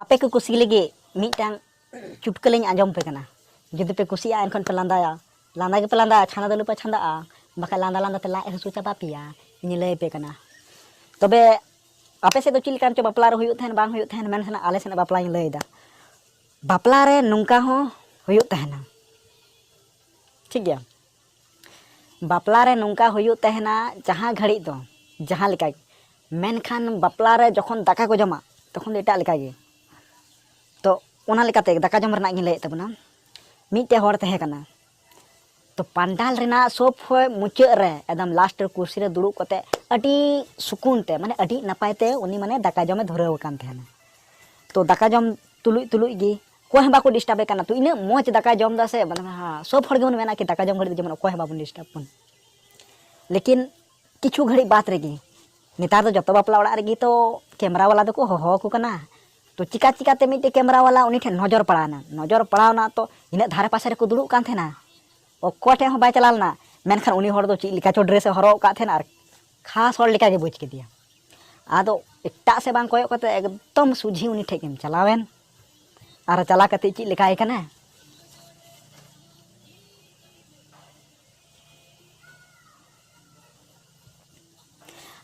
ᱟᱯᱮ ᱠᱚ ᱠᱩᱥᱤ ᱞᱟᱹᱜᱤᱫ ᱢᱤᱫᱴᱟᱝ ᱪᱩᱴᱠᱟᱹ ᱞᱤᱧ ᱟᱸᱡᱚᱢ ᱯᱮ ᱠᱟᱱᱟ ᱡᱩᱫᱤ ᱯᱮ ᱠᱩᱥᱤᱭᱟᱜᱼᱟ ᱮᱱᱠᱷᱟᱱ ᱯᱮ ᱞᱟᱸᱫᱟᱭᱟ ᱞᱟᱸᱫᱟ ᱜᱮᱯᱮ ᱞᱟᱸᱫᱟᱭᱟ ᱪᱷᱟᱸᱫᱟ ᱫᱚ ᱟᱞᱚᱯᱮ ᱪᱷᱟᱸᱫᱟᱜᱼᱟ ᱵᱟᱠᱷᱟᱡ ᱞᱟᱸᱫᱟ ᱞᱟᱸᱫᱟ ᱛᱮ ᱞᱟᱡ ᱦᱟᱹᱥᱩ ᱪᱟᱵᱟ ᱯᱮᱭᱟ ᱤᱧ ᱞᱟᱹᱭ ᱯᱮ ᱠᱟᱱᱟ ᱛᱚᱵᱮ ᱟᱯᱮ ᱥᱮᱫ ᱫᱚ ᱪᱮᱫ ᱞᱮᱠᱟᱱ ᱪᱚ ᱵᱟᱯᱞᱟ ᱨᱮ ᱦᱩᱭᱩᱜ ᱛᱟᱦᱮᱱ ᱵᱟᱝ ᱦᱩᱭᱩᱜ ᱛᱟᱦᱮᱱ ᱢᱮᱱᱠᱷᱟᱱ ᱟᱞᱮ ᱥᱮᱱᱟᱜ ᱵᱟᱯᱞᱟᱧ ᱞᱟᱹᱭᱫᱟ ᱵᱟᱯᱞᱟ ᱨᱮ ᱱᱚᱝᱠᱟ ᱦᱚᱸ ᱦᱩᱭᱩᱜ ᱛᱟᱦᱮᱱᱟ ᱴᱷᱤᱠ ᱜᱮᱭᱟ ᱵᱟᱯᱞᱟ ᱨᱮ ᱱᱚᱝᱠᱟ ᱦᱩᱭᱩᱜ ᱛᱟᱦᱮᱱᱟ ᱡᱟᱦᱟᱸ ᱜᱷᱟᱹᱲᱤᱡ ᱫᱚ ᱡᱟᱦᱟᱸ ᱞᱮᱠᱟ ᱜᱮ ᱢᱮᱱᱠᱷᱟᱱ ᱵᱟᱯᱞᱟ ᱨᱮ ᱡᱚᱠᱷᱚᱱ ᱫᱟᱠᱟ ᱠᱚ ᱡᱚᱢᱟ ᱛᱚᱠᱷᱚᱱ ᱫᱚ ᱮᱴᱟᱜ ᱞᱮᱠᱟ ᱜᱮ ᱛᱚ ᱚᱱᱟ ᱞᱮᱠᱟᱛᱮ ᱫᱟᱠᱟ ᱡᱚᱢ ᱨᱮᱱᱟᱜ ᱜᱤᱧ ᱞᱟᱹᱭᱮᱫ ᱛᱟᱵᱚᱱᱟ ᱢᱤᱫᱴᱮᱡ ᱦᱚᱲ ᱛᱟᱦᱮᱸ ᱠᱟᱱᱟ ᱛᱚ ᱯᱟᱱᱰᱟᱞ ᱨᱮᱱᱟᱜ ᱥᱚᱵ ᱠᱷᱚᱡ ᱢᱩᱪᱟᱹᱫ ᱨᱮ ᱮᱠᱫᱚᱢ ᱞᱟᱥᱴ ᱨᱮ ᱠᱩᱨᱥᱤ ᱨᱮ ᱫᱩᱲᱩᱵ ᱠᱟᱛᱮ ᱟᱹᱰᱤ ᱥᱩᱠᱩᱱ ᱛᱮ ᱢᱟᱱᱮ ᱟᱹᱰᱤ ᱱᱟᱯᱟᱭ ᱛᱮ ᱩᱱᱤ ᱢᱟᱱᱮ ᱫᱟᱠᱟ ᱡᱚᱢᱮ ᱫᱷᱩᱨᱟᱹᱣ ᱟᱠᱟᱱ ᱛᱟᱦᱮᱱᱟ ᱛᱚ ᱫᱟᱠᱟ ᱡᱚᱢ ᱛᱩᱞᱩᱡ ᱛᱩᱞᱩᱡ ᱜᱮ ᱚᱠᱚᱭ ᱦᱚᱸ ᱵᱟᱠᱚ ᱰᱤᱥᱴᱟᱵᱮ ᱠᱟᱱᱟ ᱛᱚ ᱤᱱᱟᱹᱜ ᱢᱚᱡᱽ ᱫᱟᱠᱟ ᱡᱚᱢ ᱫᱟ ᱥᱮ ᱢᱟᱱᱮ ᱥᱚᱵ ᱦᱚᱲ ᱜᱮᱵᱚᱱ ᱢᱮᱱᱟ ᱠᱤ ᱫᱟᱠᱟ ᱡᱚᱢ ᱜᱷᱟᱹᱲᱤᱡ ᱡᱮᱢᱚᱱ ᱚᱠᱚᱭ ᱦᱚᱸ ᱵᱟᱵᱚᱱ ᱰᱤᱥᱴᱟᱵ ᱵᱚᱱ ᱞᱮᱠᱤᱱ ᱠᱤᱪᱷᱩ ᱜᱷᱟᱹᱲᱤᱡ ᱵᱟᱫ ᱨᱮᱜᱮ ᱱᱮᱛᱟᱨ ᱫᱚ ᱡᱚᱛᱚ ᱵᱟᱯᱞᱟ ᱚᱲᱟᱜ ᱨᱮᱜᱮ ᱛᱚ ᱠᱮᱢᱨᱟ ᱵᱟᱞᱟ ᱫᱚᱠᱚ ᱦᱚᱦᱚ ᱟᱠᱚ ᱠᱟᱱᱟ ᱛᱚ ᱪᱤᱠᱟ ᱪᱤᱠᱟᱛᱮ ᱢᱤᱫᱴᱮᱡ ᱠᱮᱢᱨᱟ ᱵᱟᱞᱟ ᱩᱱᱤ ᱴᱷᱮᱱ ᱱᱚᱡᱚᱨ ᱯᱟᱲᱟᱣᱱᱟ ᱱᱚᱡᱚᱨ ᱯᱟᱲᱟᱣᱱᱟ ᱛᱚ ᱤᱱᱟᱹᱜ ᱫᱷᱟᱨᱮ ᱯᱟᱥᱮ ᱨᱮᱠᱚ ᱫᱩᱲᱩᱵ ᱠᱟᱱ ᱛᱟᱦᱮᱱᱟ ᱚᱠᱚᱭ ᱴᱷᱮᱱ ᱦᱚᱸ ᱵᱟᱭ ᱪᱟᱞᱟᱣ ᱞᱮᱱᱟ ᱢᱮᱱᱠᱷᱟᱱ ᱩᱱᱤ ᱦᱚᱲ ᱫᱚ ᱪᱮᱫ ᱞᱮᱠᱟ ᱪᱚ ᱰᱨᱮᱥ ᱮ ᱦᱚᱨᱚᱜ ᱟᱠᱟᱫ ᱛᱟᱦᱮᱱᱟ ᱟᱨ ᱠᱷᱟᱥ ᱦᱚᱲ ᱞᱮᱠᱟ ᱜᱮ ᱵᱩᱡᱽ ᱠᱮᱫᱮᱭᱟ ᱟᱫᱚ ᱮᱴᱟᱜ ᱥᱮᱫ ᱵᱟᱝ ᱠᱚᱭᱚᱜ ᱠᱟᱛᱮ ᱮᱠᱫᱚᱢ ᱥᱩᱡᱷᱤ ᱩᱱᱤ ᱴᱷᱮᱡ ᱜᱮᱢ ᱪᱟᱞᱟᱣᱮᱱ ᱟᱨ ᱪᱟᱞᱟᱣ ᱠᱟᱛᱮ ᱪᱮᱫ ᱞᱮᱠᱟᱭ ᱠᱟᱱᱟ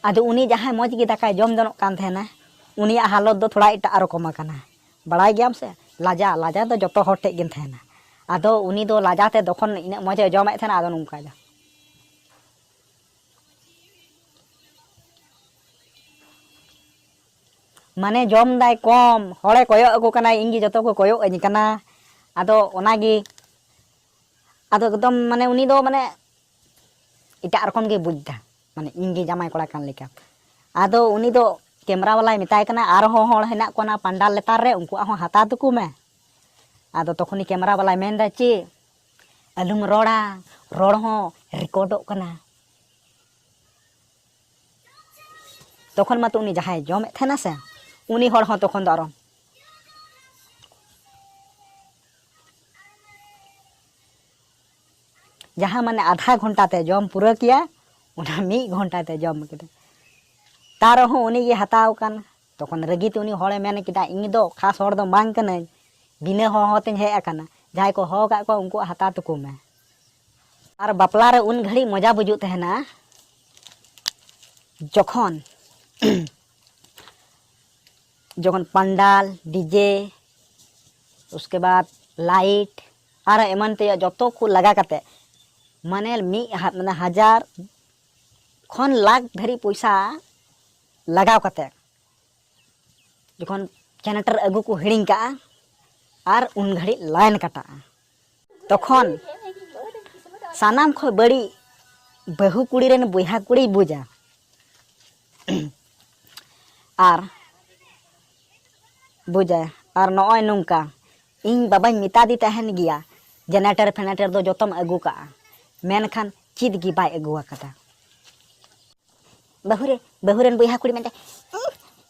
ᱟᱫᱚ ᱩᱱᱤ ᱡᱟᱦᱟᱸᱭ ᱢᱚᱡᱽ ᱜᱮ ᱫᱟᱠᱟᱭ ᱡᱚᱢ ᱡᱚᱱᱚᱜ ᱠᱟᱱ ᱛᱟᱦᱮᱱᱟ ᱩᱱᱤᱭᱟᱜ ᱦᱟᱞᱚᱛ ᱫᱚ ᱛᱷᱚᱲᱟ ᱮᱴᱟᱜ ᱨᱚᱠᱚᱢ ᱟᱠᱟᱱᱟ ᱵᱟᱲᱟᱭ ᱜᱮᱭᱟᱢ ᱥᱮ ᱞᱟᱡᱟ ᱞᱟᱡᱟ ᱫᱚ ᱡᱚᱛᱚ ᱦᱚᱲ ᱴᱷᱮᱡ ᱜᱮᱢ ᱛᱟᱦᱮᱱᱟ ᱟᱫᱚ ᱩᱱᱤ ᱫᱚ ᱞᱟᱡᱟ ᱛᱮ ᱛᱚᱠᱷᱚᱱ ᱤᱱᱟᱹᱜ ᱢᱚᱡᱮ ᱡᱚᱢᱮᱫ ᱛᱟᱦᱮᱱᱟ ᱟᱫᱚ ᱱᱚᱝᱠᱟ ᱫᱚ ᱢᱟᱱᱮ ᱡᱚᱢ ᱫᱟᱭ ᱠᱚᱢ ᱦᱚᱲᱮ ᱠᱚᱭᱚᱜ ᱟᱠᱚ ᱠᱟᱱᱟ ᱤᱧ ᱜᱮ ᱡᱚᱛᱚ ᱠᱚ ᱠᱚᱭᱚᱜ ᱟᱹᱧ ᱠᱟᱱᱟ ᱟᱫᱚ ᱚᱱᱟ ᱜᱮ ᱟᱫᱚ ᱮᱠᱫᱚᱢ ᱢᱟᱱᱮ ᱩᱱᱤ ᱫᱚ ᱢᱟᱱᱮ ᱮᱴᱟᱜ ᱨᱚᱠᱚᱢ ᱜᱮ ᱵᱩᱡᱽ ᱫᱟ ᱢᱟᱱᱮ ᱤᱧ ᱜᱮ ᱡᱟᱢᱟᱭ ᱠᱚᱲᱟ ᱠᱟᱱ ᱞᱮᱠᱟ ᱟᱫᱚ ᱩᱱᱤ ᱫᱚ ᱠᱮᱢᱨᱟ ᱵᱟᱞᱟᱭ ᱢᱮᱛᱟᱭ ᱠᱟᱱᱟ ᱟᱨᱦᱚᱸ ᱦᱚᱲ ᱦᱮᱱᱟᱜ ᱠᱚᱣᱟ ᱚᱱᱟ ᱯᱟᱱᱰᱟᱞ ᱞᱮᱛᱟᱨ ᱨᱮ ᱩᱱᱠᱩᱣᱟᱜ ᱦᱚᱸ ᱦᱟᱛᱟᱣ ᱛᱟᱠᱚ ᱢᱮ ᱟᱫᱚ ᱛᱚᱠᱷᱚᱱᱤ ᱠᱮᱢᱨᱟ ᱵᱟᱞᱟᱭ ᱢᱮᱱᱫᱟ ᱪᱮ ᱟᱞᱚᱢ ᱨᱚᱲᱟ ᱨᱚᱲ ᱦᱚᱸ ᱨᱮᱠᱚᱨᱰᱚᱜ ᱠᱟᱱᱟ ᱛᱚᱠᱷᱚᱱ ᱢᱟᱛᱚ ᱩᱱᱤ ᱡᱟᱦᱟᱸᱭ ᱡᱚᱢᱮᱫ ᱛᱟᱦᱮᱱᱟ ᱥᱮ ᱩᱱᱤ ᱦᱚᱲ ᱦᱚᱸ ᱛᱚᱠᱷᱚᱱ ᱫᱚ ᱟᱨᱚ ᱡᱟᱦᱟᱸ ᱢᱟᱱᱮ ᱟᱫᱷᱟ ᱜᱷᱚᱱᱴᱟ ᱛᱮ ᱡᱚᱢ ᱯᱩᱨᱟᱹ ᱠᱮᱭᱟ ᱚᱱᱟ ᱢᱤᱫ ᱜᱷᱚᱱᱴᱟ ᱛᱮ ᱡᱚᱢ ᱠᱮᱫᱟ ᱛᱟᱨ ᱨᱮᱦᱚᱸ ᱩᱱᱤ ᱜᱮ ᱦᱟᱛᱟᱣ ᱠᱟᱱ ᱛᱚᱠᱷᱚᱱ ᱨᱟᱹᱜᱤ ᱛᱮ ᱩᱱᱤ ᱦᱚᱲᱮ ᱢᱮᱱ ᱠᱮᱫᱟ ᱤᱧ ᱫᱚ ᱠᱷᱟᱥ ᱦᱚᱲ ᱫᱚ ᱵᱟᱝ ᱠᱟᱹᱱᱟᱹᱧ ᱵᱤᱱᱟᱹ ᱦᱚᱦᱚ ᱛᱮᱧ ᱦᱮᱡ ᱟᱠᱟᱱᱟ ᱡᱟᱦᱟᱸᱭ ᱠᱚ ᱦᱚᱦᱚ ᱠᱟᱜ ᱠᱚᱣᱟ ᱩᱱᱠᱩᱣᱟᱜ ᱦᱟᱛᱟᱣ ᱛᱟᱠᱚ ᱢᱮ ᱟᱨ ᱵᱟᱯᱞᱟ ᱨᱮ ᱩᱱ ᱜᱷᱟᱹᱲᱤᱡ ᱢᱚᱡᱟ ᱵᱩᱡᱩᱜ ᱛᱟᱦᱮᱱᱟ ᱡᱚᱠᱷᱚᱱ ᱡᱚᱠᱷᱚᱱ ᱯᱟᱱᱰᱟᱞ ᱰᱤᱡᱮ ᱩᱥᱠᱮ ᱵᱟᱫ ᱞᱟᱭᱤᱴ ᱟᱨ ᱮᱢᱟᱱ ᱛᱮᱭᱟᱜ ᱡᱚᱛᱚ ᱠᱚ ᱞᱟᱜᱟ ᱠᱟᱛᱮ ᱢᱟᱱᱮ ᱢᱤᱫ ᱢᱟᱱᱮ ᱦᱟᱡᱟᱨ ᱠᱷᱚᱱ ᱞᱟᱠᱷ ᱫᱷᱟᱹᱨᱤᱡ ᱯᱚᱭᱥᱟ ᱞᱟᱜᱟᱣ ᱠᱟᱛᱮ ᱡᱚᱠᱷᱚᱱ ᱡᱮᱱᱟᱨᱮᱴᱚᱨ ᱟᱹᱜᱩ ᱠᱚ ᱦᱤᱲᱤᱧ ᱠᱟᱜᱼᱟ ᱟᱨ ᱩᱱ ᱜᱷᱟᱹᱲᱤᱡ ᱞᱟᱭᱤᱱ ᱠᱟᱴᱟᱜᱼᱟ ᱛᱚᱠᱷᱚᱱ ᱥᱟᱱᱟᱢ ᱠᱷᱚᱱ ᱵᱟᱹᱲᱤᱡ ᱵᱟᱹᱦᱩ ᱠᱩᱲᱤ ᱨᱮᱱ ᱵᱚᱭᱦᱟ ᱠᱩᱲᱤᱭ ᱵᱩᱡᱟ ᱟᱨ ᱵᱩᱡᱟᱭ ᱟᱨ ᱱᱚᱜᱼᱚᱭ ᱱᱚᱝᱠᱟ ᱤᱧ ᱵᱟᱵᱟᱧ ᱢᱮᱛᱟᱫᱮ ᱛᱟᱦᱮᱱ ᱜᱮᱭᱟ ᱡᱮᱱᱟᱨᱮᱴᱟᱨ ᱯᱷᱮᱱᱟᱨᱮᱴᱟᱨ ᱫᱚ ᱡᱚᱛᱚᱢ ᱟᱹᱜᱩ ᱠᱟᱜᱼᱟ ᱢᱮᱱᱠᱷᱟᱱ ᱪᱮᱫ ᱜᱮ ᱵᱟᱭ ᱟᱹᱜᱩ ᱟᱠᱟᱫᱟ ᱵᱟᱹᱦᱩ ᱨᱮ ᱵᱟᱹᱦᱩ ᱨᱮᱱ ᱵᱚᱭᱦᱟ ᱠᱩᱲᱤ ᱢᱮᱱᱛᱮ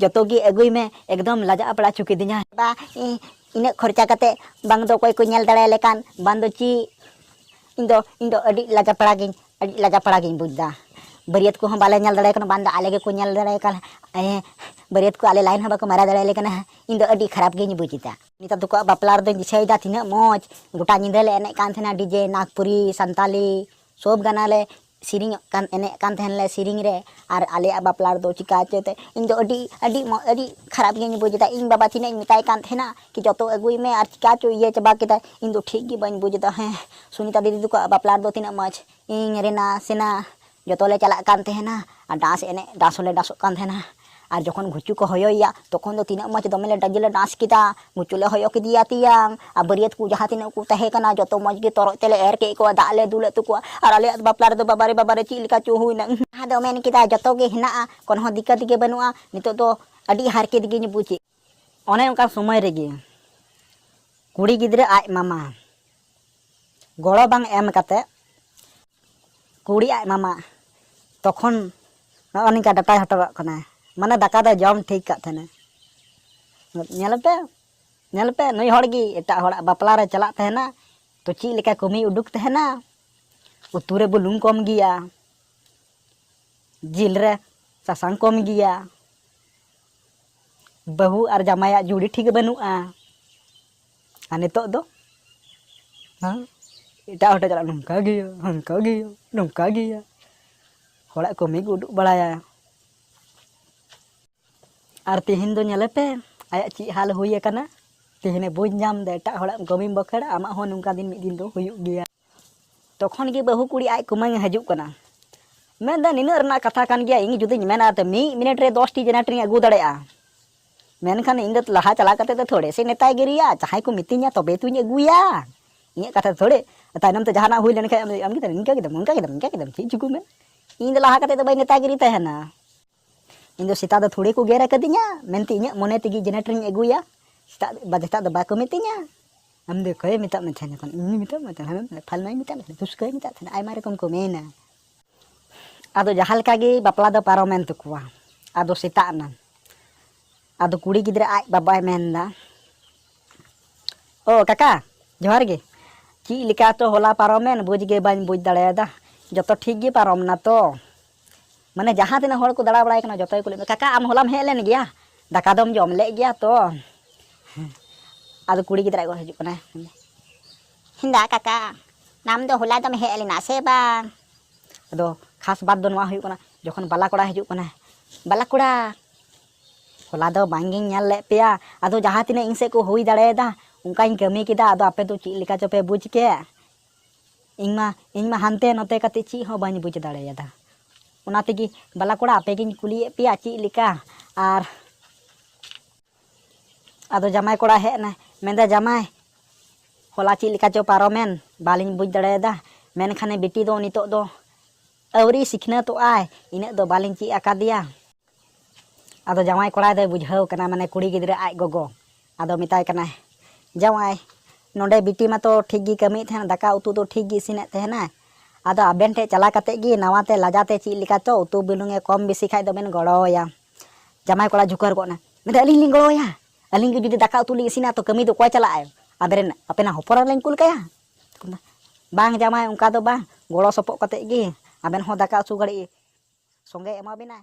ᱡᱚᱛᱚ ᱜᱮ ᱟᱹᱜᱩᱭ ᱢᱮ ᱮᱠᱫᱚᱢ ᱞᱟᱡᱟᱜ ᱯᱟᱲᱟ ᱦᱚᱪᱚ ᱠᱤᱫᱤᱧᱟ ᱵᱟ ᱤᱱᱟᱹᱜ ᱠᱷᱚᱨᱪᱟ ᱠᱟᱛᱮ ᱵᱟᱝ ᱫᱚ ᱚᱠᱚᱭ ᱠᱚ ᱧᱮᱞ ᱫᱟᱲᱮ ᱞᱮᱠᱟᱱ ᱵᱟᱝ ᱫᱚ ᱪᱮᱫ ᱤᱧ ᱫᱚ ᱤᱧ ᱫᱚ ᱟᱹᱰᱤ ᱞᱟᱡᱟ ᱯᱟᱲᱟ ᱜᱤᱧ ᱟᱹᱰᱤ ᱞᱟᱡᱟ ᱯᱟᱲᱟ ᱜᱤᱧ ᱵᱩᱡ ᱫᱟ ᱵᱟᱹᱨᱭᱟᱹᱛ ᱠᱚᱦᱚᱸ ᱵᱟᱞᱮ ᱧᱮᱞ ᱫᱟᱲᱮ ᱠᱟᱱᱟ ᱵᱟᱝ ᱫᱚ ᱟᱞᱮ ᱜᱮᱠᱚ ᱧᱮᱞ ᱫᱟᱲᱮ ᱠᱟᱱ ᱵᱟᱹᱨᱭᱟᱹᱛ ᱠᱚ ᱟᱞᱮ ᱞᱟᱭᱤᱱ ᱦᱚᱸ ᱵᱟᱠᱚ ᱢᱟᱨᱟ ᱫᱟᱲᱮ ᱞᱮ ᱠᱟᱱᱟ ᱤᱧ ᱫᱚ ᱟᱹᱰᱤ ᱠᱷᱟᱨᱟᱯ ᱜᱤᱧ ᱵᱩᱡ ᱫᱟ ᱱᱮᱛᱟᱨ ᱫᱚᱠᱚ ᱵᱟᱯᱞᱟ ᱨᱮᱫᱚᱧ ᱫᱤᱥᱟᱹᱭᱮᱫᱟ ᱛᱤᱱᱟᱹᱜ ᱢᱚᱡᱽ ᱜᱚᱴᱟ ᱧᱤᱫᱟᱹ ᱞᱮ ᱮᱱᱮᱡ ᱠᱟᱱ ᱛᱟᱦᱮᱱᱟ ᱰᱤᱡᱮ ᱱᱟᱜᱽᱯᱩᱨᱤ ᱥᱟᱱᱛᱟᱞᱤ ᱥᱚᱵ ᱜᱟᱱᱟᱞᱮ ᱥᱮᱨᱮᱧ ᱠᱟᱱ ᱮᱱᱮᱡ ᱠᱟᱱ ᱛᱟᱦᱮᱱ ᱞᱮ ᱥᱮᱨᱮᱧ ᱨᱮ ᱟᱨ ᱟᱞᱮᱭᱟᱜ ᱵᱟᱯᱞᱟ ᱨᱮᱫᱚ ᱪᱤᱠᱟᱹ ᱪᱚᱛᱮ ᱤᱧ ᱫᱚ ᱟᱹᱰᱤ ᱟᱹᱰᱤ ᱟᱹᱰᱤ ᱠᱷᱟᱨᱟᱯ ᱜᱤᱧ ᱵᱩᱡᱽ ᱮᱫᱟ ᱤᱧ ᱵᱟᱵᱟ ᱛᱤᱱᱟᱹᱜ ᱤᱧ ᱢᱮᱛᱟᱭ ᱠᱟᱱ ᱛᱟᱦᱮᱱᱟ ᱠᱤ ᱡᱚᱛᱚ ᱟᱹᱜᱩᱭ ᱢᱮ ᱟᱨ ᱪᱤᱠᱟᱹ ᱪᱚ ᱤᱭᱟᱹ ᱪᱟᱵᱟ ᱠᱮᱫᱟᱭ ᱤᱧ ᱫᱚ ᱴᱷᱤᱠ ᱜᱮ ᱵᱟᱹᱧ ᱵᱩᱡᱽ ᱮᱫᱟ ᱦᱮᱸ ᱥᱩᱱᱤᱛᱟ ᱫᱤᱫᱤ ᱛᱟᱠᱚᱣᱟᱜ ᱵᱟᱯᱞᱟ ᱨᱮᱫᱚ ᱛᱤᱱᱟᱹᱜ ᱢᱚᱡᱽ ᱤᱧ ᱨᱮᱱᱟ ᱥᱮᱱᱟ ᱡᱚᱛᱚ ᱞᱮ ᱪᱟᱞᱟᱜ ᱠᱟᱱ ᱛᱟᱦᱮᱱᱟ ᱟᱨ ᱰᱟᱱᱥ ᱮᱱᱮᱡ ᱰᱟᱱᱥ ᱦᱚᱸᱞᱮ ᱰᱟᱱᱥᱚᱜ ᱠᱟᱱ ᱛᱟᱦᱮᱱᱟ ᱟᱨ ᱡᱚᱠᱷᱚᱱ ᱜᱷᱩᱪᱩ ᱠᱚ ᱦᱚᱭᱚᱭᱮᱭᱟ ᱛᱚᱠᱷᱚᱱ ᱫᱚ ᱛᱤᱱᱟᱹᱜ ᱢᱚᱡᱽ ᱫᱚᱢᱮ ᱞᱮ ᱰᱟᱡᱮ ᱞᱮ ᱰᱟᱱᱥ ᱠᱮᱫᱟ ᱜᱷᱩᱪᱩ ᱞᱮ ᱦᱚᱭᱚ ᱠᱮᱫᱮᱭᱟ ᱛᱮᱭᱟᱝ ᱟᱨ ᱵᱟᱹᱨᱭᱟᱹᱛ ᱠᱚ ᱡᱟᱦᱟᱸ ᱛᱤᱱᱟᱹᱜ ᱠᱚ ᱛᱟᱦᱮᱸ ᱠᱟᱱᱟ ᱡᱚᱛᱚ ᱢᱚᱡᱽ ᱜᱮ ᱛᱚᱨᱚᱡ ᱛᱮᱞᱮ ᱮᱨ ᱠᱮᱫ ᱠᱚᱣᱟ ᱫᱟᱜ ᱞᱮ ᱫᱩᱞᱟᱫ ᱛᱟᱠᱚᱣᱟ ᱟᱨ ᱟᱞᱮᱭᱟᱜ ᱵᱟᱯᱞᱟ ᱨᱮᱫᱚ ᱵᱟᱵᱟᱨᱮ ᱵᱟᱵᱟᱨᱮ ᱪᱮᱫ ᱞᱮᱠᱟ ᱪᱚ ᱦᱩᱭᱱᱟ ᱟᱫᱚ ᱢᱮᱱ ᱠᱮᱫᱟ ᱡᱚᱛᱚ ᱜᱮ ᱦᱮᱱᱟᱜᱼᱟ ᱠᱚᱱᱦᱚ ᱫᱤᱠᱠᱟᱛ ᱜᱮ ᱵᱟᱹᱱᱩᱜᱼᱟ ᱱᱤᱛᱚᱜ ᱫᱚ ᱟᱹᱰᱤ ᱦᱟᱨᱠᱮᱛ ᱜᱤᱧ ᱵᱩᱡᱮᱫ ᱚᱱᱮ ᱚᱱᱠᱟᱱ ᱥᱚᱢᱚᱭ ᱨᱮᱜᱮ ᱠᱩᱲᱤ ᱜᱤᱫᱽᱨᱟᱹ ᱟᱡ ᱢᱟᱢᱟ ᱜᱚᱲᱚ ᱵᱟᱝ ᱮᱢ ᱠᱟᱛᱮ ᱠᱩᱲᱤ ᱟᱡ ᱢᱟᱢᱟ ᱛᱚᱠᱷᱚᱱ ᱱᱚᱜᱼᱚ ᱱᱚᱝᱠᱟ ᱰᱟᱴᱟᱭ ᱦᱚᱴᱚ ᱠᱟᱜ ᱠᱟᱱᱟ ᱢᱟᱱᱮ ᱫᱟᱠᱟ ᱫᱚ ᱡᱚᱢ ᱴᱷᱤᱠ ᱠᱟᱜ ᱛᱟᱦᱮᱱᱟ ᱧᱮᱞ ᱯᱮ ᱧᱮᱞ ᱯᱮ ᱱᱩᱭ ᱦᱚᱲ ᱜᱮ ᱮᱴᱟᱜ ᱦᱚᱲᱟᱜ ᱵᱟᱯᱞᱟ ᱨᱮ ᱪᱟᱞᱟᱜ ᱛᱟᱦᱮᱱᱟ ᱛᱚ ᱪᱮᱫ ᱞᱮᱠᱟ ᱠᱟᱹᱢᱤ ᱩᱰᱩᱠ ᱛᱟᱦᱮᱱᱟ ᱩᱛᱩ ᱨᱮ ᱵᱩᱞᱩᱝ ᱠᱚᱢ ᱜᱮᱭᱟ ᱡᱤᱞ ᱨᱮ ᱥᱟᱥᱟᱝ ᱠᱚᱢ ᱜᱮᱭᱟ ᱵᱟᱹᱦᱩ ᱟᱨ ᱡᱟᱢᱟᱭᱟᱜ ᱡᱩᱲᱤ ᱴᱷᱤᱠ ᱵᱟᱹᱱᱩᱜᱼᱟ ᱟᱨ ᱱᱤᱛᱚᱜ ᱫᱚ ᱦᱮᱸ ᱮᱴᱟᱜ ᱦᱚᱲ ᱴᱷᱮᱱ ᱪᱟᱞᱟᱜ ᱱᱚᱝᱠᱟ ᱜᱮᱭᱟ ᱦᱟᱱᱠᱟ ᱜᱮᱭᱟ ᱱᱚᱝᱠᱟ ᱜᱮᱭᱟ ᱦᱚᱲᱟᱜ ᱠᱟᱹᱢᱤ ᱠᱚ ᱩᱫᱩᱜ ᱵᱟᱲᱟᱭᱟ ᱟᱨ ᱛᱮᱦᱮᱧ ᱫᱚ ᱧᱮᱞᱮ ᱯᱮ ᱟᱭᱟᱜ ᱪᱮᱫ ᱦᱟᱞ ᱦᱩᱭ ᱟᱠᱟᱱᱟ ᱛᱮᱦᱮᱧᱮ ᱵᱩᱡᱽ ᱧᱟᱢ ᱫᱟ ᱮᱴᱟᱜ ᱦᱚᱲᱟᱜ ᱠᱟᱹᱢᱤᱢ ᱵᱟᱹᱠᱷᱟᱹᱲᱟ ᱟᱢᱟᱜ ᱦᱚᱸ ᱱᱚᱝᱠᱟ ᱫᱤᱱ ᱢᱤᱫ ᱫᱤᱱ ᱫᱚ ᱦᱩᱭᱩᱜ ᱜᱮᱭᱟ ᱛᱚᱠᱷᱚᱱ ᱜᱮ ᱵᱟᱹᱦᱩ ᱠᱩᱲᱤ ᱟᱡ ᱠᱩᱢᱟᱹᱝ ᱦᱤᱡᱩᱜ ᱠᱟᱱᱟ ᱢᱮᱱᱫᱟ ᱱᱤᱱᱟᱹᱜ ᱨᱮᱱᱟᱜ ᱠᱟᱛᱷᱟ ᱠᱟᱱ ᱜᱮᱭᱟ ᱤᱧ ᱡᱩᱫᱤᱧ ᱢᱮᱱᱟ ᱛᱚ ᱢᱤᱫ ᱢᱤᱱᱤᱴ ᱨᱮ ᱫᱚᱥᱴᱤ ᱡᱮᱱᱟᱨᱮᱴᱚᱨᱤᱧ ᱟᱹᱜᱩ ᱫᱟᱲᱮᱭᱟᱜᱼᱟ ᱢᱮᱱᱠᱷᱟᱱ ᱤᱧ ᱫᱚ ᱞᱟᱦᱟ ᱪᱟᱞᱟᱣ ᱠᱟᱛᱮ ᱫᱚ ᱛᱷᱚᱲᱮ ᱥᱮ ᱱᱮᱛᱟᱭ ᱜᱤᱨᱤᱭᱟ ᱡᱟᱦᱟᱸᱭ ᱠᱚ ᱢᱤᱛᱟᱹᱧᱟ ᱛᱚᱵᱮ ᱛᱩᱧ ᱟᱹᱜᱩᱭᱟ ᱤᱧᱟᱹᱜ ᱠᱟᱛᱷᱟ ᱛᱷᱚᱲᱮ ᱛᱟᱭᱱᱚᱢ ᱛᱮ ᱡᱟᱦᱟᱱᱟᱜ ᱦᱩᱭ ᱞᱮᱱᱠᱷᱟᱱ ᱟᱢ ᱜᱮ ᱤᱱᱠᱟ ᱠᱮᱫᱟᱢ ᱚᱱᱠᱟ ᱠᱮᱫᱟᱢ ᱤᱱᱠᱟ ᱠᱮᱫᱟᱢ ᱪᱮᱫ ᱪᱤᱠᱟᱹ ᱢᱮ ᱤᱧ ᱫᱚ ᱞᱟᱦᱟ ᱠᱟᱛᱮ ᱫᱚ ᱵᱟᱹᱧ ᱱᱮᱛᱟᱜᱤᱨᱤ ᱛᱟᱦᱮᱱᱟ ᱤᱧ ᱫᱚ ᱥᱮᱛᱟᱜ ᱫᱚ ᱛᱷᱚᱲᱮ ᱠᱚ ᱜᱮᱨ ᱟᱠᱟᱫᱤᱧᱟ ᱢᱮᱱᱛᱮ ᱤᱧᱟᱹᱜ ᱢᱚᱱᱮ ᱛᱮᱜᱮ ᱡᱮᱱᱟᱨᱮᱴᱚᱨᱤᱧ ᱟᱹᱜᱩᱭᱟ ᱥᱮᱛᱟᱜ ᱥᱮᱛᱟᱜ ᱫᱚ ᱵᱟᱠᱚ ᱢᱤᱛᱟᱹᱧᱟ ᱟᱢ ᱫᱚ ᱚᱠᱚᱭᱮ ᱢᱮᱛᱟᱜ ᱢᱮ ᱛᱟᱦᱮᱱᱟ ᱛᱚᱠᱷᱚᱱ ᱤᱧ ᱢᱮᱛᱟᱜ ᱢᱮ ᱛᱟᱦᱮᱱᱟ ᱯᱷᱟᱞᱱᱟᱭ ᱢᱮᱛᱟᱜ ᱢᱮ ᱛᱟᱦᱮᱱᱟ ᱯᱩᱥᱠᱟᱹᱭ ᱢᱮᱛᱟᱜ ᱛᱟᱦᱮᱱᱟ ᱟᱭᱢᱟ ᱨᱚᱠᱚᱢ ᱠᱚ ᱢᱮᱱᱟ ᱟᱫᱚ ᱡᱟᱦᱟᱸ ᱞᱮᱠᱟ ᱜᱮ ᱵᱟᱯᱞᱟ ᱫᱚ ᱯᱟᱨᱚᱢᱮᱱ ᱛᱟᱠᱚᱣᱟ ᱟᱫᱚ ᱥᱮᱛᱟᱜ ᱮᱱᱟ ᱟᱫᱚ ᱠᱩᱲᱤ ᱜᱤᱫᱽᱨᱟᱹ ᱟᱡ ᱵᱟᱵᱟᱭ ᱢᱮᱱᱫᱟ ᱚ ᱠᱟᱠᱟ ᱡᱚᱦᱟᱨ ᱜᱮ ᱪᱮᱫ ᱞᱮᱠᱟ ᱛᱚ ᱦᱚᱞᱟ ᱯᱟᱨᱚᱢᱮᱱ ᱵᱩᱡᱽ ᱜᱮ ᱵᱟᱹᱧ ᱵᱩᱡᱽ ᱫᱟᱲᱮᱭᱟᱫᱟ ᱡᱚᱛᱚ ᱴᱷᱤᱠ ᱜᱮ ᱯᱟᱨᱚᱢ ᱱᱟ ᱛᱚ ᱢᱟᱱᱮ ᱡᱟᱦᱟᱸ ᱛᱤᱱᱟᱹᱜ ᱦᱚᱲ ᱠᱚ ᱫᱟᱬᱟ ᱵᱟᱲᱟᱭ ᱠᱟᱱᱟ ᱡᱚᱛᱚ ᱜᱮᱠᱚ ᱞᱟᱹᱭ ᱫᱟ ᱠᱟᱠᱟ ᱟᱢ ᱦᱚᱞᱟᱢ ᱦᱮᱡ ᱞᱮᱱ ᱜᱮᱭᱟ ᱫᱟᱠᱟ ᱫᱚᱢ ᱡᱚᱢ ᱞᱮᱫ ᱜᱮᱭᱟ ᱛᱚ ᱟᱫᱚ ᱠᱩᱲᱤ ᱜᱤᱫᱽᱨᱟᱹ ᱠᱚ ᱦᱤᱡᱩᱜ ᱠᱟᱱᱟ ᱦᱮᱸᱫᱟ ᱠᱟᱠᱟ ᱟᱢ ᱫᱚ ᱦᱚᱞᱟ ᱫᱚᱢ ᱦᱮᱡ ᱞᱮᱱᱟ ᱥᱮ ᱵᱟᱝ ᱟᱫᱚ ᱠᱷᱟᱥ ᱵᱟᱛ ᱫᱚ ᱱᱚᱣᱟ ᱦᱩᱭᱩᱜ ᱠᱟᱱᱟ ᱡᱚᱠᱷᱚᱱ ᱵᱟᱞᱟ ᱠᱚᱲᱟ ᱦᱤᱡᱩᱜ ᱠᱟᱱᱟ ᱵᱟᱞᱟ ᱠᱚᱲᱟ ᱦᱚᱞᱟ ᱫᱚ ᱵᱟᱝᱜᱤᱧ ᱧᱮᱞ ᱞᱮᱫ ᱯᱮᱭᱟ ᱟᱫᱚ ᱡᱟᱦᱟᱸ ᱛᱤᱱᱟᱹᱜ ᱤᱧ ᱥᱮᱫ ᱠᱚ ᱦᱩᱭ ᱫᱟᱲᱮᱭᱟᱫᱟ ᱚᱱᱠᱟᱧ ᱠᱟᱹᱢᱤ ᱠᱮᱫᱟ ᱟᱫᱚ ᱟᱯᱮ ᱫᱚ ᱪᱮᱫ ᱞᱮᱠᱟ ᱪᱚᱯᱮ ᱵᱩᱡᱽ ᱠᱮᱫ ᱤᱧ ᱢᱟ ᱤᱧ ᱢᱟ ᱦᱟᱱᱛᱮ ᱱᱚᱛᱮ ᱠᱟᱛᱮ ᱪᱮᱫ ᱦᱚᱸ ᱵᱟᱹᱧ ᱵᱩᱡᱽ ᱫᱟᱲᱮᱭᱟᱫᱟ ᱚᱱᱟ ᱛᱮᱜᱮ ᱵᱟᱞᱟ ᱠᱚᱲᱟ ᱟᱯᱮ ᱜᱤᱧ ᱠᱩᱞᱤᱭᱮᱫ ᱯᱮᱭᱟ ᱪᱮᱫ ᱞᱮᱠᱟ ᱟᱨ ᱟᱫᱚ ᱡᱟᱢᱟᱭ ᱠᱚᱲᱟ ᱦᱮᱡ ᱮᱱᱟᱭ ᱢᱮᱱᱫᱟ ᱡᱟᱢᱟᱭ ᱦᱚᱞᱟ ᱪᱮᱫ ᱞᱮᱠᱟ ᱪᱚ ᱯᱟᱨᱚᱢᱮᱱ ᱵᱟᱞᱤᱧ ᱵᱩᱡᱽ ᱫᱟᱲᱮᱭᱟᱫᱟ ᱢᱮᱱᱠᱷᱟᱱᱮ ᱵᱤᱴᱤ ᱫᱚ ᱱᱤᱛᱚᱜ ᱫᱚ ᱟᱹᱣᱨᱤ ᱥᱤᱠᱷᱱᱟᱹᱛᱚᱜᱼᱟᱭ ᱤᱱᱟᱹᱜ ᱫᱚ ᱵᱟᱞᱤᱧ ᱪᱮᱫ ᱟᱠᱟᱫᱮᱭᱟ ᱟᱫᱚ ᱡᱟᱶᱟᱭ ᱠᱚᱲᱟ ᱫᱚᱭ ᱵᱩᱡᱷᱟᱹᱣ ᱠᱟᱱᱟ ᱢᱟᱱᱮ ᱠᱩᱲᱤ ᱜᱤᱫᱽᱨᱟᱹ ᱟᱡ ᱜᱚᱜᱚ ᱟᱫᱚ ᱢᱮᱛᱟᱭ ᱠᱟᱱᱟᱭ ᱡᱟᱶᱟᱭ ᱱᱚᱰᱮ ᱵᱤᱴᱤ ᱢᱟᱛᱚ ᱴᱷᱤᱠ ᱜᱮ ᱠᱟᱹᱢᱤᱭᱮᱫ ᱛᱟᱦᱮᱱᱟ ᱫᱟᱠᱟ ᱩᱛᱩ ᱫᱚ ᱴᱷᱤᱠ ᱜᱮ ᱤᱥᱤᱱᱮᱫ ᱛᱟᱦᱮᱱᱟ ᱟᱫᱚ ᱟᱵᱮᱱ ᱴᱷᱮᱡ ᱪᱟᱞᱟᱣ ᱠᱟᱛᱮ ᱜᱮ ᱱᱟᱣᱟᱛᱮ ᱞᱟᱡᱟᱛᱮ ᱪᱮᱫ ᱞᱮᱠᱟ ᱪᱚ ᱩᱛᱩ ᱵᱩᱞᱩᱝ ᱮ ᱠᱚᱢ ᱵᱮᱥᱤ ᱠᱷᱟᱡ ᱫᱚᱵᱮᱱ ᱜᱚᱲᱚᱣᱟᱭᱟ ᱡᱟᱢᱟᱭ ᱠᱚᱲᱟ ᱡᱷᱩᱠᱟᱹᱨ ᱜᱚᱫ ᱱᱟ ᱢᱮᱱᱫᱟ ᱟᱹᱞᱤᱧ ᱞᱤᱧ ᱜᱚᱲᱚᱣᱟᱭᱟ ᱟᱹᱞᱤᱧ ᱜᱮ ᱡᱩᱫᱤ ᱫᱟᱠᱟ ᱩᱛᱩ ᱞᱤᱧ ᱤᱥᱤᱱᱟ ᱛᱚ ᱠᱟᱹᱢᱤ ᱫᱚ ᱚᱠᱚᱭ ᱪᱟᱞᱟᱜᱼᱟᱭ ᱟᱵᱮᱱ ᱟᱯᱮᱱᱟᱜ ᱦᱚᱯᱚᱱ ᱞᱤᱧ ᱠᱩᱞ ᱠᱟᱭᱟ ᱵᱟᱝ ᱡᱟᱢᱟᱭ ᱚᱱᱠᱟ ᱫᱚ ᱵᱟᱝ ᱜᱚᱲᱚ ᱥᱚᱯᱚᱦᱚᱫ ᱠᱟᱛᱮ ᱜᱮ ᱟᱵᱮᱱ ᱦᱚᱸ ᱫᱟᱠᱟ ᱩᱛᱩ ᱜᱷᱟᱹᱲᱤᱡ ᱥᱚᱸᱜᱮ ᱮᱢᱟᱵᱮᱱᱟᱭ